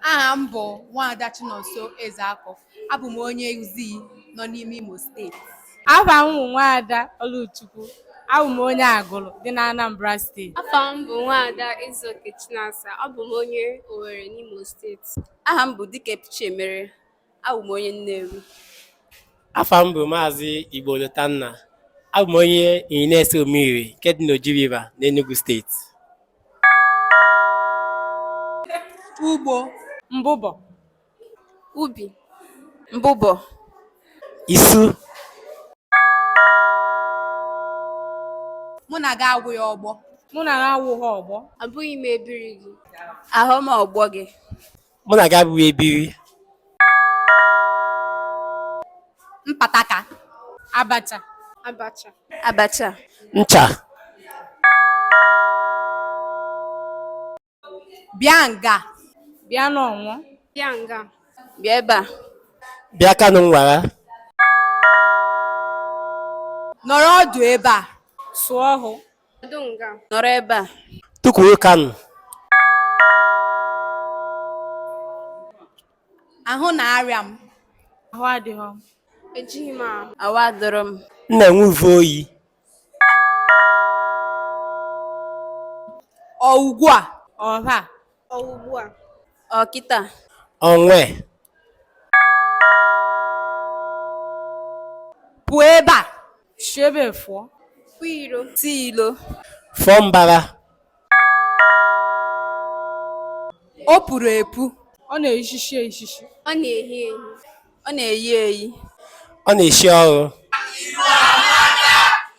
Aha m bụ Nwaada Chinonso Ezeakụ. Abụ m onye Uzii nọ n'ime Imo steeti. Afa m bụ Nwaada Oluchukwu. Abụ m onye Agụlụ dị n'Anambra steeti. Afa m bụ Nwaada Ezeoke Chinasa. Abụ m onye Owerri n'Imo steeti. Aha m bụ Dikepchimere. Abụ m onye Nnewi. Afa m bụ Maazị Igbo Lotanna. Abụ m onye Inyi na-ese Omiri nke dị n'Oji River n'Enugu steeti. Ugbo. Mbụbọ. Ubi. Mbụbọ. Isu. Mụ na gị awụghị ọgbọ. Mụ na gị awụghị ọgbọ. Abụghị m ebiri gị. Ahụ m ọgbọ gị. mụ na gị abụghị ebiri mpataka abacha abacha abacha ncha bịa nga bịa n'ọnwụ bịa nga bịa ebe a bịa kanụ nwara nọrọ ọdụ ebe a sụọ hụ Nọdụ nga. Nọrọ ebe a. Tukwuru kanụ. Ahụ na-arịa m. Ahụ adịghị m. Ejighị m ahụ. Ahụ adịrọ m. M na-enwe uve oyi. Ọ ugbu a. Ọha. Ọ ugbu a. Ọ kịta. Onwe. pụọ ebe a si ebe fụọ pụ iro si ilo fụọ mbara o puru epu ọ na-ehichi ehichi ọ na-ehi ehi ọ na-eyi eyi ọ na-eshi ọnụ